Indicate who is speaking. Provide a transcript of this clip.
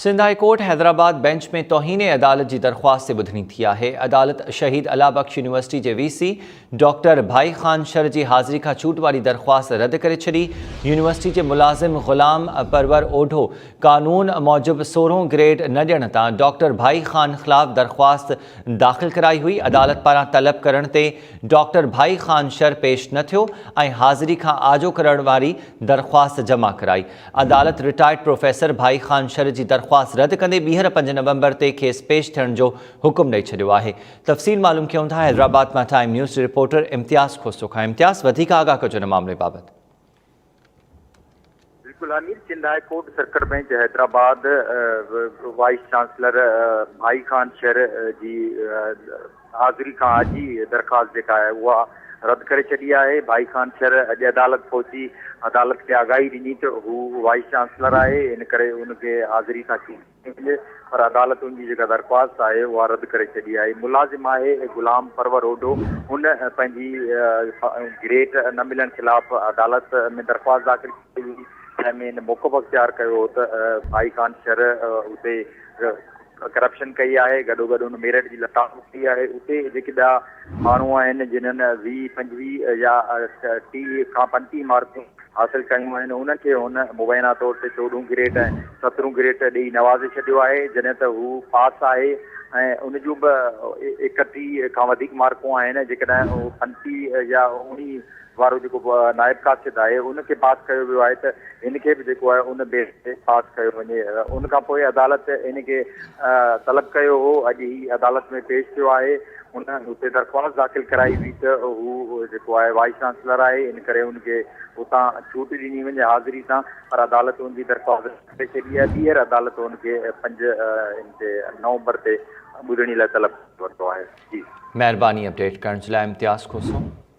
Speaker 1: Sindh high court Hyderabad bench ۾ توهين عدالت جي درخواست تي ٻڌڻي ٿي آهي، عدالت شهيد الله بخش يونيورسٽي جي V C doctor Bhai Khan شر جي حاضري کان ڇوٽ واري درخواست رد ڪري ڇڏي، يونيورسٽي جي ملازم غلام پرور اوڍو قانون موجب سورهون گريڊ نه ڏيڻ تان ڊاڪٽر ڀائي خان خلاف درخواست داخل ڪرائي هئي، عدالت پاران طلب ڪرڻ تي ڊاڪٽر ڀائي خان شر پيش نه ٿيو ۽ حاضري کان آجو ڪرڻ واري درخواست جمع ڪرائي. عدالت رٽائرڊ پروفيسر ڀائي خان شر جي درخواست رد ڪندي ٻيهر پنج نومبر تي کيس پيش ٿيڻ جو حڪم ڏئي ڇڏيو آهي تفصيل معلوم ڪيون ٿا حيدرآباد مان ٽائيم نيوز جي رپورٽر امتياز کوسو کان امتياز وڌيڪ آگاهه ڪجو ان معاملي بابت
Speaker 2: بلڪل آمير Sindh high court circuit bench Hyderabad vice chancellor Bhai Khan شر جي حاضري کان اڄ ئي درخواست جيڪا آهي اها رد ڪري ڇڏي آهي، ڀائي خان شر اڄ عدالت پهچي عدالت کي آگاهي ڏني ته هو وائيس چانسلر آهي ان ڪري ان کي حاضري تان چوٽ ڏني وڃي پر عدالت ان جي جيڪا درخواست آهي اها رد ڪري ڇڏي آهي ملازم آهي غلام پرور اوڍو هن پنهنجي گريڊ نه ملڻ خلاف عدالت ۾ درخواست داخل ڪئي هئي جنهن ۾ هن موقف اختيار ڪيو هو ته ڀائي خان شر اتي ڪرپشن ڪئي آهي گڏوگڏ ان ميرٽ جي لتاڙ به ڪئي آهي اتي جيڪي ٻيا ماڻهو آهن جنهن ويهه پنجويهه يا ٽيهه کان پنجٽيهه مارڪون حاصل ڪيون آهن انهن کي هن مبينا طور تي چوڏهون گريڊ ۽ سترهون گريڊ ڏئي نوازي ڇڏيو آهي جڏهن ته هو پاس آهي ۽ ان جون به ايڪٽيهه کان وڌيڪ مارڪون آهن جيڪڏهن هو پنجٽيهه يا اڻيهه وارو جيڪو نائب قاصد آهي ان کي پاس ڪيو ويو آهي ته هن کي به جيڪو آهي ان بيس تي پاس ڪيو وڃي ان کان پوء عدالت ان کي طلب ڪيو هو اڄ هي عدالت ۾ پيش ٿيو آهي ان اتي درخواست داخل ڪرائي هئي ته هو جيڪو آهي وائيس چانسلر آهي ان ڪري ان کي اتان ڇوٽ ڏني وڃي حاضري تان پر عدالت ان جي درخواست ڪري ڇڏي آهي ٻيهر عدالت ان کي پنج ان تي نومبر
Speaker 1: تي ٻڌڻي
Speaker 2: لاء طلب ورتو آهي
Speaker 1: جي مهرباني
Speaker 2: اپڊيٽ
Speaker 1: ڪرڻ جي
Speaker 2: لاء امتياز
Speaker 1: کوسو.